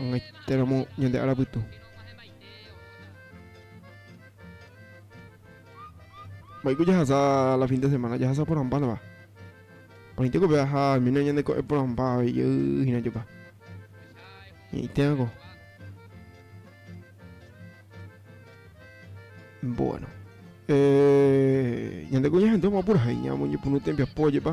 Ogaitéramo ñande ára pytu. Mba'éiko jahasa la fin de semana? Jahasa porãmbánava. Paite ko peaha almeno ñande ko'e porãmba avei jey hína jopa. Ñe'ĩtéva ko. Bueno. Eh, ñande ko ñahendu amopurahéi ñamoñepyrũ tembiapo jepa.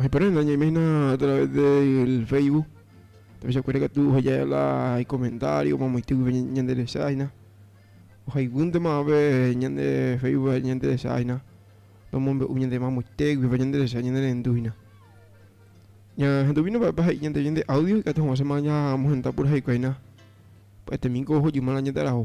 Ojeporã na ñaiména a través del Facebook, tapichakuéra katu oheja la ikomentario momoite guive ñanderechaina, ohaiguýntema ápe ñande Facebook ñanderechaina, nomombe'u ñande mamoite guive ñanderecha ñanerendúina. Ñahenduvíno mba'épa he'i ñandéve ñande audio ikatu hag̃uáichama ñamohenda puraheikuáina pya'etémi ko ohojýma la ñande araho.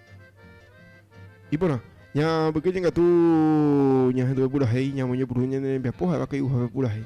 Iporã, ñambykyje katu ñahenduve purahéi ñamoñepyrũ ñane rembiapo ha'éva kay'uhápe purahéi.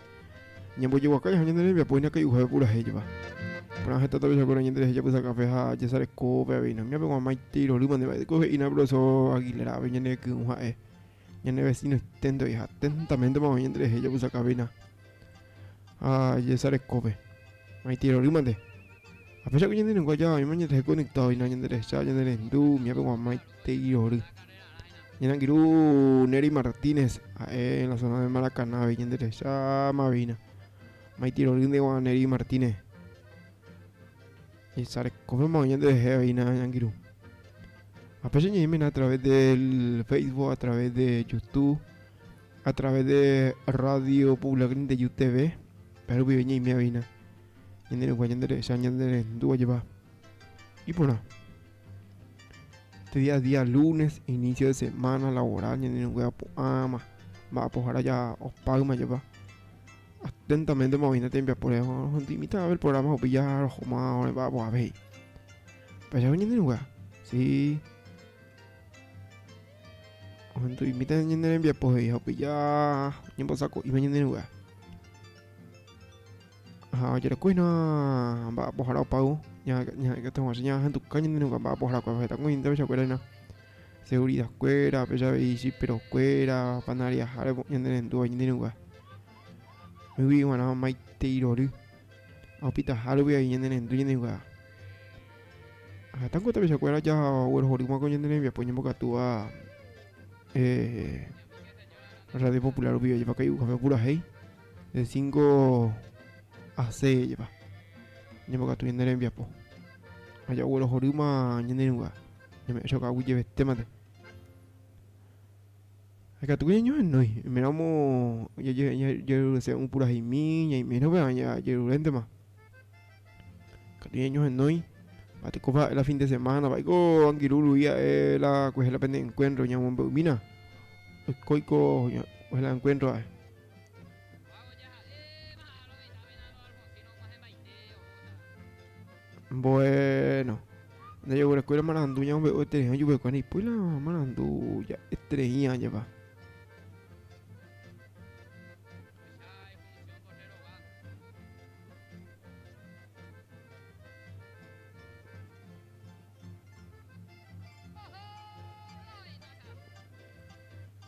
Ñambojeguaka jaha ñane rembiapo hína kay'uhápe purahéiva. Porã heta tapichakuéra ñanderehe japysakãve ha jasarekópe avei. Namiápe guamaite irorýma nde mba'éiko he'ína profesor Aguilarpe ñane ky'ũ ha'e. Ñane vecino esténtegui ha atentamente mavave ñanderehe japysakãveina ha jasarekópe. Maite irorýma nde. Ha péicha ko ñande reinguáicha oĩma ñanderehe conectado hína ñanderehecha ñanerendu, miápe guamái. Teguiory. Ñanangirũ Nery Martínez, ha'e la zona de Maracaná, ñanderecha Mavina. Maitirorýnte guã Nery Martínez. Esarekóme mo'ã ñanderehe oína ñangirũ. Apéicha ñe'ẽmena a través del Facebook, a través de YouTube, a través de Radio Popular Nindeju TV. Pero vive ñe'ẽme oína. Ñanderekua ñanderecha ñanderendúva jepa. Iporã. Este día es día lunes, inicio de semana laboral, ñande ñangue apu'ãma, mba'apohára ja opáyma jepa. Atentamente maoína tembiapo rehe, ohenduimíta el programa rupi ja rohoma ore mba'apo avei. Pejave ñande ñangue, sí. Ohenduimíta ñande rembiapo he'i, hopi ja ñembosako'íma ñande ñangue. Ha ojerekuéhina mba'apohara opávo, ñahenduka ñande rũnga mba'apoharakuérape heta kuñañete ohechakuéra hína, seguridakuéra, péicha avei chiperokuéra, panariahára ñande rendúva ñande rũnga. Oĩgui g̃uarã maitei rory ha opitaha rupi avei ñande rendu ñande rũnga. Ha heta ko tapichakuéra jaguerohory hag̃ua ko ñande rembiapo ñembokatúva Radio Popular rupive, ojepa kai'u kape opurahéi. De cinco a seis jepa, ñambokatu ñane rembiapo ha jaguerohorýma ñane rũva, ñame'ẽ chokagui jevetémante. Ha ikatu ñañohenói, oiméramo jajerurese ũ puraheimi, ñaimérõ péva jajeruréntema. Ikatu ñañohenói, ha tekópa ha'e la fin de semana, vaíko angirũ rupi ha'e la kuehe la pende encuentro ñamombe'umína, oikóiko kuehe la encuentro ha'e. Bueno. Ndajeguerekóirõ marandu ñamombe'u eterei ojuvekue ndoipói la marandu ja'eterei añepa.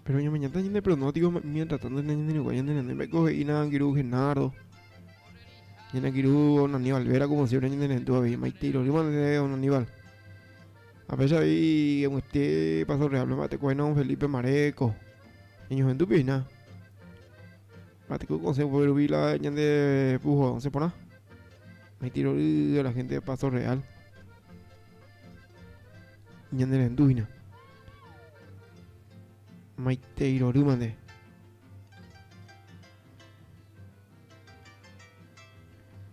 Pero ñameñata ñande pronóstico mientras tanto ñande ñanderuguái ñande nane mba'éiko he'i Narangiru Genaro Ñanangiru don Aníbal Vera como siempre ñande nendu avei maite irorýma nde don Aníbal apecha avei aguete paso real pema tekóina don Felipe Maréko ñañohendu pihina Ma'ẽteko consejo peve rupi la ñande pujo'ãse porã. Oĩti rory a la gente de Paso Real ñanerendu hína. Maitei rorýma nde.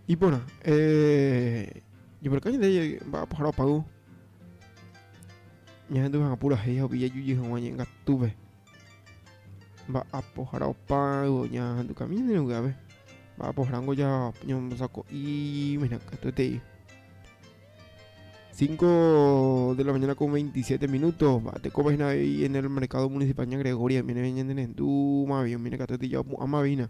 Iporã, eh, jeporeka ñande mba'apohára opávo ñahendu hag̃ua purahéi ha upéi jajujey hag̃ua ñe'ẽngatúpe. Mba'apohára opa yvy oñahendu kamínere ogyave. Mba'apoháramo ñambosako'i mehna katuetei. 5 de la mañana con 27 minutos. Mba'etekópa hína avei en el mercado municipal ña Gregoria. Oime ñande rendu mavio, oime katuetei jaopu'ãma avei hína.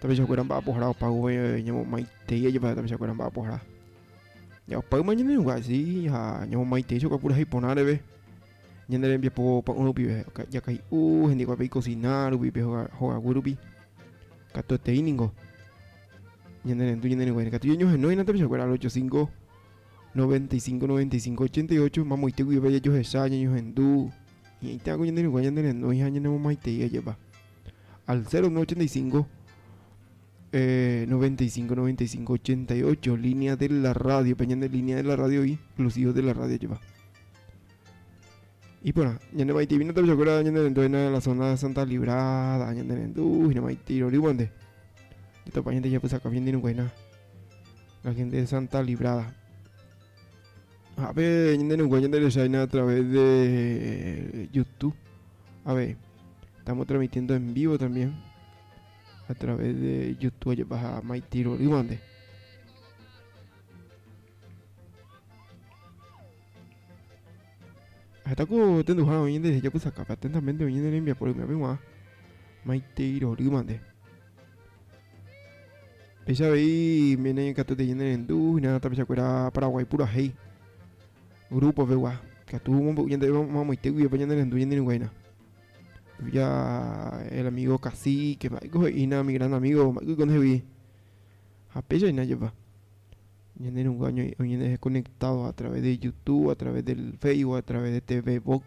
tapichakuéra mba'apohara opágui ñamomaitei ajapóva tapichakuéra mba'apohara opáyma ñanenungaséi ha ñamomaitei chokua purahéi porã reve ñane rembiapo pa'ũ rupive jakay'u hendikuápe ikosina rupi pe hogaguy rupi katuetei ningo ñanerendu ñanerenguáire katu ñañohenóiramo tapichakuéra al 85 95 95 88 mamoite guive jajohecha ñañohendu ñe'ẽita ko ñanerenguáire ñanerenói ha ñanemomaitei ajapa al 0985 eh, 95 95 88 línea de la radio pe ñande línea de la radio y exclusivo de la radio lleva y por ñande maite vino también acuerda ñande dentro de la zona de Santa Librada ñande dentro uy no maite ro ribonde de topa ñande ya pues acá bien de no buena la gente de Santa Librada Ha'e ñanderenguáva ñande resaina a través de YouTube. Ave, estamos transmitiendo en vivo también a través de YouTube ajepa ha Maitiro rývante. Heta ku tenduha oñende jaku sakapa atentamente oñende rembiapo rymiape guã. Maitiro rývante. Péicha avei mene ikatuetei ñanerendu, hína tapichakuéra Paraguái purahéi grúpo pegua, ikatu omombe'u ñande amoite guivépe ñanerendu ñanerũgua hína. Ya el amigo cacique mba'éiko he'ína mi gran amigo mba'éiko oiko ndehegui. Ha péicha hína jepa, ñanerũgua oñe'ẽ oñe'ẽ conectado a través de Youtube, a través del Facebook, a través de TV Box.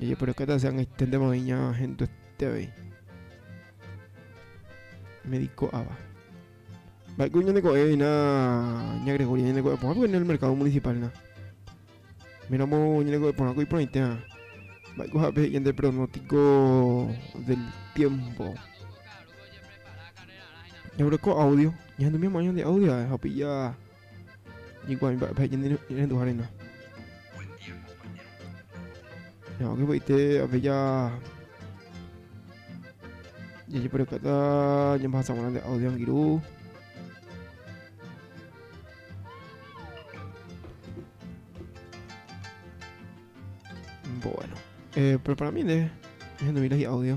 Ejeporakata se ag̃uiténtema oĩ ña hendoete avei. Médico ava. Mba'éiko ñande ko'ẽvina ña Gregoria ñande ko'ẽ porã porque en el mercado municipal na. Méramo ñande ko'ẽ porãko iporãitéva. Mba'éiko ha'e pehe'i ñande pronóstico del tiempo. Ñamboreko audio, ñahendumi amo'ã ñande audio ha upéi ja Hikuái mba'épa he'i ñande renduha reina. Ñamo'ãke py'aite ape ja jajeporekáta ñambahasa g̃uarã nde audio angirũ. Bueno, eh, preparami nde ñahendúmi la hi'audio.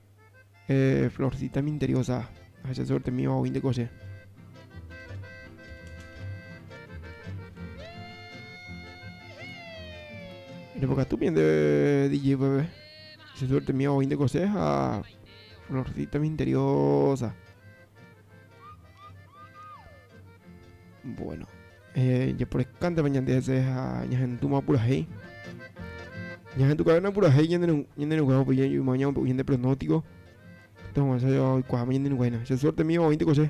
Eh florcita minteriosa ha che suerte míva oĩnte ko che. Repokatu bien de DJ Bebe. Che suerte míva oĩnte ko che ha florcita minteriosa. Bueno. Japorekánte va ñande hese ha ñahendúma purahéi. Ñahendukavéna purahéi ñande rugua opa yma ñamombe'u ñande pronóstico, teguamasa java oikuaáma ñande rugua hína. Che suerte mío oĩnte ko che.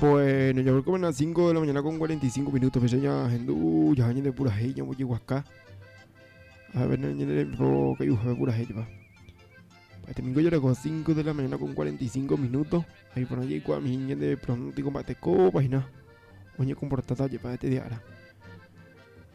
Bueno, ya volcó a las 5 de la mañana con 45 minutos. Pues ya gente, uh, ya gente pura hey, ya voy a acá. A ver, ya le pro que yo voy pura hey, va. Este domingo ya las 5 de la mañana con 45 minutos. Ahí por allí, cuando mi gente de pronto combate copa y nada. Oye, comportada, ya para este día.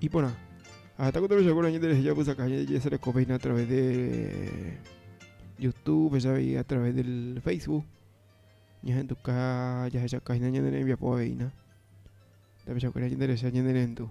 Iporã. Ha heta kotevẽcha kuéra ñanderehe japysaka ha jajesarekovéina a través de Youtube ha a través del Facebook. Ñahenduka jahechaka'ína ñane rembiapo aveína. Tapichakuéra ñanderehe ha ñanerendu.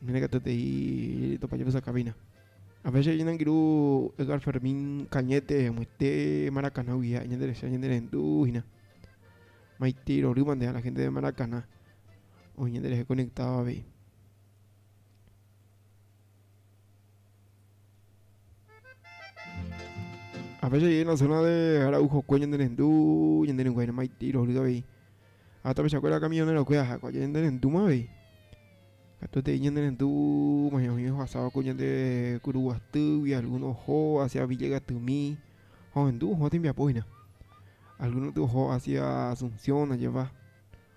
Mira que te di topa yo esa cabina. A veces yo nangiru Edgar Fermín Cañete, muite Maracaná guía, ñande resa, ñande rendu, hina. Maite iroruma de a la gente de Maracaná. O ñande resa conectado a ver. Afecha jey en la zona de Araujo Cue ñande rendu ñande rengu haine maitei rohry avei ha tapicha kuéra camionero kue aja kua ñande rendu ma avei katu tei ñande rendu ma ñohõi ohasáva ku ñande kuru guastýgui alguno oho hacia Villegas tymi ha ohendu oho tembiapo hína alguno tu oho hacia Asunción oñepa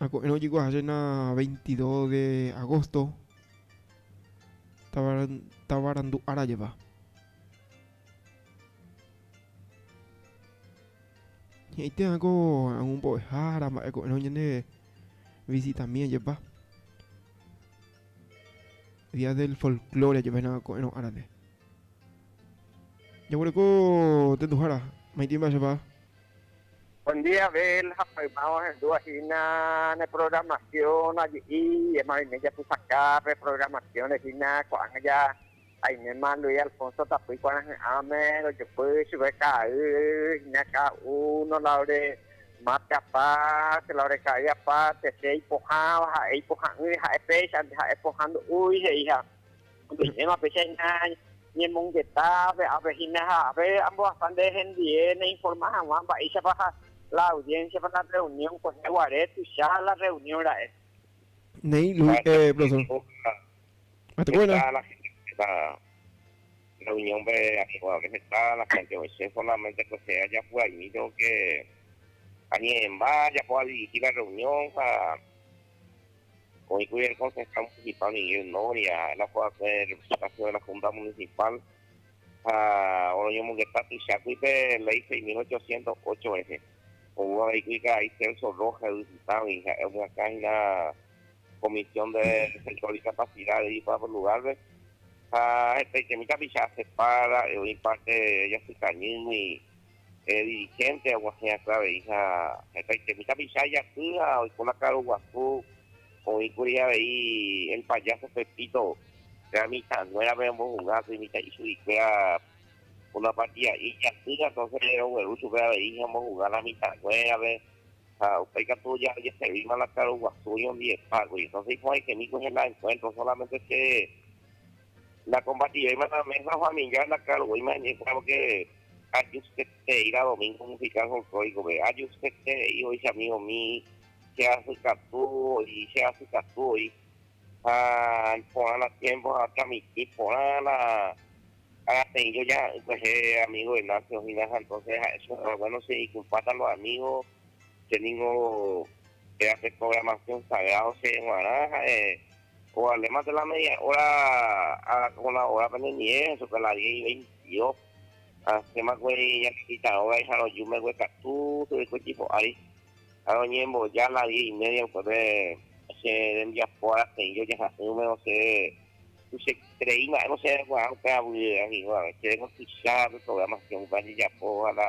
Ha ko'ẽrõ jeko aháchena 22 de agosto tavarandu ára jeva. He'íte áko aún mbo'ehára mba'e ko'ẽrõ ñande visitami ajepa. Día del folklore ajepa hína ko'ẽrõ árape. Jaguereko tenduhára maitĩ mba'e chepa. Buen día Abel ha mayma ohendúva hína ne programación aje'i ema oime japysaka pe programación-re hína ko'ág̃a ja aiméma Luis Alfonso tapýi kuarahy'ãme rojopy chupe ka'ay hína cada uno la ore marte aparte la ore ka'ay aparte che ipohãva ha'e ipoha'ỹre ha'e péicha nde ha'e pohã ndo'úi he'iha Ome'ẽma péicha hína ñemongeta pe ápe hína ha ápe ambohasa nde hendie neinforma hag̃ua mba'éichapa ha la audiencia-pa la reunión kuehe guare tuicha la reunión ra'e. Néi Luis, eh, profesor. Ha tekove la. La reunión-pe añeguápe heta la gente oĩse solamente kuehe ajapu'aimi lo que añe'ẽmba ajapo adirigir la reunión ha. Oĩkuri el Concejal Municipal Miguel Noria, la Representación de la Junta Municipal ha oroñomongeta tuichágui pe Ley 6.808 rehe. Oúvo aveigui karai Celso Rojas yvy Pytãgui, ha'e omyakã hína Comisión de Centro de Discapacidad de Ipa por Lugarpe ha hetaiterei tapicha aceptar, ha'e oĩ parte jasykañýgui. Pe dirihénte aguahẽ asy avei ha hetaitemi tapicha ijapy ha oiko la karu guasu. Oĩ kuri avei El Payaso Pepito pe amitãnguérape ombohuga asy mitã'i chuguikuéra una partida'i ijapýta. Entonce rogueru chupe avei ha ombohuga la mitãnguérape ha upéi katu ojeservíma la karu guasu oñondivepa kuri. Entonce iporãikemíkuri hela encuentro, solamente che Nakombativéima la mesa familiar la claro voi maeme'ẽkuéra porque ajustetereí la domingo musical folclóricove, ajustetereí ohechami umi cheasykatu voi, cheasykatu voi ha porã la tiempo ha transmiti porã la rapeĩ jojaha'ỹ kuehe amigo Venancio hína ha entonces ha'e súper bueno che ikumpáta los amigos, che ningo péva pe programación sagrado che guarã ha'e O alema de la media hora a las una hora peneñe'ẽ hesoka la diez y veintidós ha ha'éma guéri ñanepitãrõ vaiha roju megue katu tereiko tipo ári ha roñemboja la diez y media upépe che rembiapo arateĩ rojaha'ỹme osẽ tuicha rei mba'e osẽ kuaã upe avýre añeñóvare che reko tuicha pe programación upe ajejapo ha la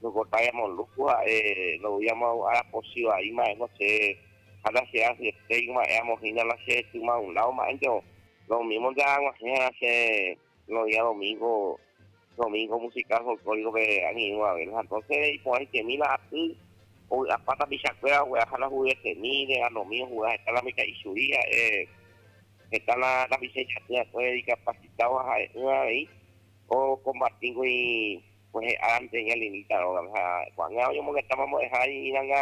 no cortaba yamo luz ha'e ndoúi yamo arapochivai mba'e osẽ ha la che asy estéik ma'ẽ amo hína la che sy maunlao ma'ẽnte o lo mismo nde aguahẽra che lo día domingo domingo musical folklórico pe añe'ỹ guave la entonce iporãitemi la aty ovy'apa tapichakuéra ogue'a ha la juguetemi de anomí ojuga heta la mitã'ichuri ha'e heta la tapicha ijaty akue dikapasitado ha ha'e'ỹva avei o combati gui kuehe ára mitã'i alinita rógape ha ko'ág̃a oñomongetáma mbo'eha iñirãnga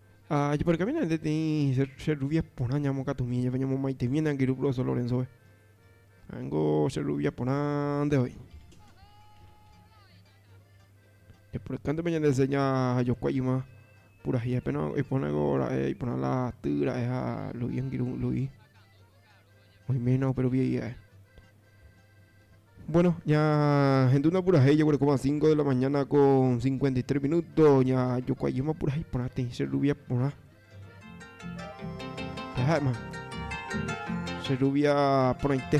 Ha jeporekamína ente tei che rruvia porã ñamokatumi jepe ñamomaitemi ne angirũ profesor Lorenzo-pe. Ha'éngo che rruvia porãnte voi. Jeporekánte pe ñande seña ha jokua yma purahéi ha péna oipohánako ra'e iporã la ty ra'e ha Lu'i angirũ Lu'i. Oiména upe rupi he'i ae. Bueno, ña hendu napurahéi jaguerekóma cinco de la mañana con cincuenta y tres minuto ña jokuaíma purahéi porã teĩ che rubia porã. Ha'éma che rubia porãite.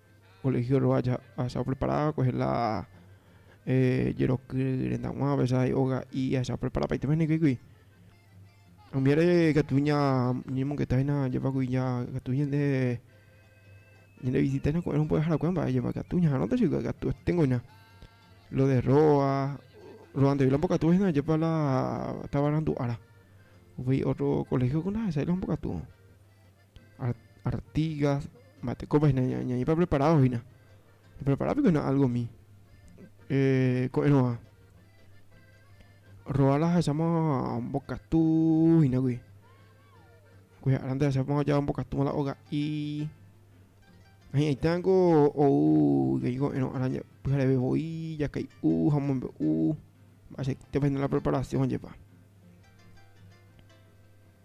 Colegio rova ahecha oprepara kuehe la jeroky rendag̃ua aveces hay oga'i ahecha oprepara paite pehẽnguéigui omiáre katu ña ñañemongeta hína jepagui ña katu ñande ñande visita hína ko'ẽrõ mbo'eharakuéva mba'e jepa katu ñaharõta chugui katu osténgo hína lo de róa ro'andegui la mbokatu hína jepa la tavarandu ára voi otro colegio ko ndahechái la ombokatu Artigas, mba'etekópa hína ñaípa preparádo hína. Prepará piko hína álgomi. Eh, ko'ẽrõva. Rogar lahecháma ombokatu hínaguy. Kuicha'arãnte lahecháma ojapo ombokatúva la oga'i. Hi'ãita ningo ou avei ko'ẽrõ'arã pyhareve voi jakay'u ha omombe'u mba'eichaitépa hína la preparación jepa.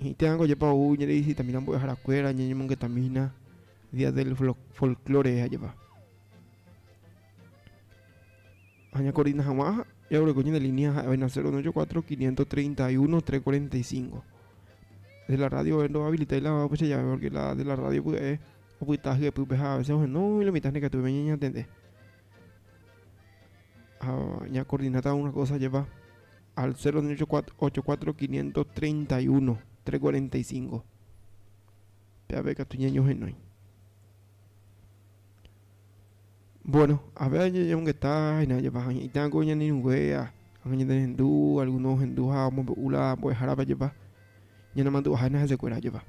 Imitãngo ojepa ou ñanevisitahína mbo'eharakuéra, ñañemongetahína Día del Folklore jajeva. Ha ñakordina hag̃ua jaguereko ñande línea ha'e vaina 094 531 345. De la radio oe ndohabilitai la upéicha jave, pórke la de la radio pya'e opyta hyepýpe ha avese ohenói la mitã ha nekatúpe ñañatende. Ah, ña coordinata una cosa lleva al 0.84.531.345. Peave katu ñañohenói. Bueno, a ver ñañongeta hina lleva hañe'ita ko ñanirũgue a ñande rendu, alguno hendu ha omombe'u la mbo'ehárape lleva ñanemandu'aha hina hesekuéra lleva.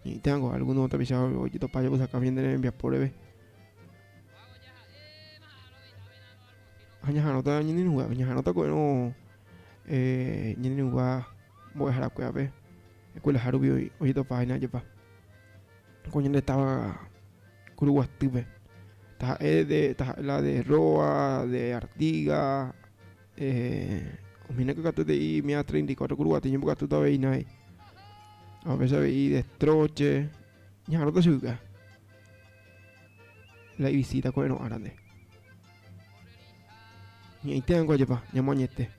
Ñe'ĩta ko alguno tapicha ojetopa jepysakãme ñande rembiapo reve. Ha ñaha'arõta ñanerũguévape, ñaha'arõta ko'ẽrõ eh, ñanerũgua mbo'eharakuévape, escuelaha rupi ojetopa hína ajepa. Ko ñande táva Kuruguatýpe, taha'e de, taha'e la de Roa, de Artiga, eh, omhína ko katu hete'i mia treinta y cuatro Kuruguaty ñembokatúta avei hína he'i. A veces avei de Estroche, ñaha'arõta chuguikuéa. La ivisita ko'ẽrõ árande. Ñe'ẽite hag̃ua jepa, ñamoañete.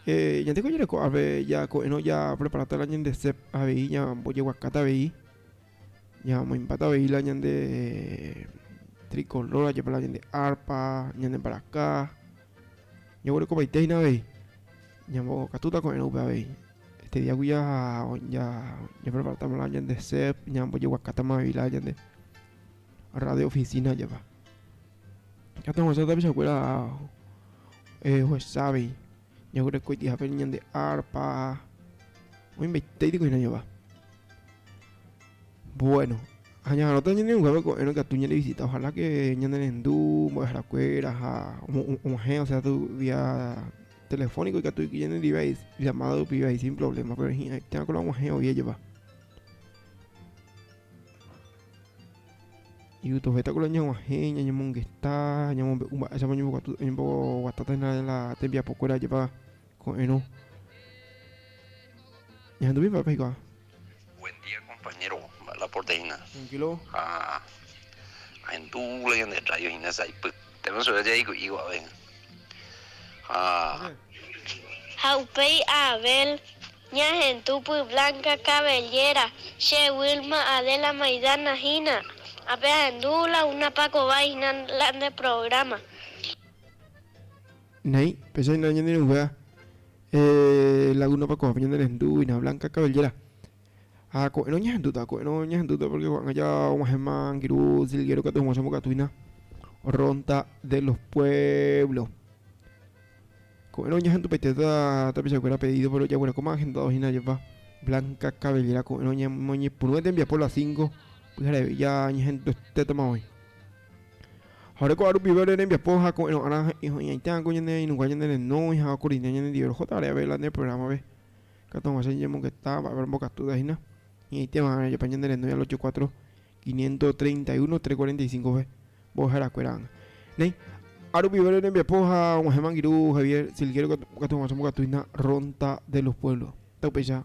Eh, ñande ko ñereko ápe ja ko'ẽrõ ja preparáta la ñande sep avei ña mbojeguakáta avei, ña moimbáta avei la ñande tricolor, ajepa la ñande arpa, ñande mbaraka. Ñoguerekovaite hína avei, ñambokatúta ko'ẽrõ upe avei. Este díagui japreparátama la ñande sep, ñambojeguakátama avei la ñande radio ofisína japa. Heta ohasa tapichakuéra ohecha avei, ñaguereko ikiape ñande árpa, oĩmbaite itykuihina japa. Bueno, ha ñaharõta ñane'õnguépe ko'ẽrõ ikatu ñarevisita, ojalá que ñane rendu mbo'eharakuéra ha omog̃uahẽ, o sea, vía telefónico ikatu iki ñane ndive ahí llamada rupive ahí sin problema, pero hi'ãitéma ko la og̃uahẽ oĩjepa. Ipytu'ovéta ko la ñag̃uahẽ ñañemongeta, ñamombe'u mba'éichapa oñembokatu oñemboguatáta hína la tembiapokuéra jepa ko'ẽrõ. Ñahenduvéi mba'épa eikuaa. Buen día compañero la porteína Tranquilo. ha ahendu la ñande radio hína sa'ypy térã sure jaiku'i guave ha Ha upéi Abel, ña hentupy Blanca Cabellera, che Wilma, Adela Maidana hína, ha pe ahendu la una pakova hína la nde programa. Néi, péicha hína ñane irũnguéra lagúnapa ko'ápe ñane rendu hína Blanca Cabellera. Ha ko'ẽrõ oñehentúta, ko'ẽrõ oñehentúta pórke ko'ág̃a ja og̃uahẽma angirũ silguéro katu hag̃ua chembokatu hína Ronda de los Pueblos. Ko'ẽrõ oñehentupaitéta tapichakuéra pedído péro ojaguerakóma ahendado hína jepa Blanca Cabellera ko'ẽrõ oñepyrũve tembiapo las cinco pyhareve ja ñehenduetétama oĩ. Ha'e ko'ã rupive ore rembiapo ha ko'ẽrõ'arã iñaitãkõ ñane ainunga ñane renógui ha okorrine ñanendive roho tareave la nde prográmave. Katu hag̃ua che ñemongeta mba'épa rembokatúta hína, iñaiteva'erã jepa ñane renói al ocho cuatro, quinientos treinta y uno, tres cuarenta y cinco-pe mbo'eharakue-rã ág̃a. Néi, ha rupive ore rembiapo ha og̃uahẽ mangiru Javier Silguero katu hag̃ua che mbokatu hína Ronda de los Pueblos. Taupeicha.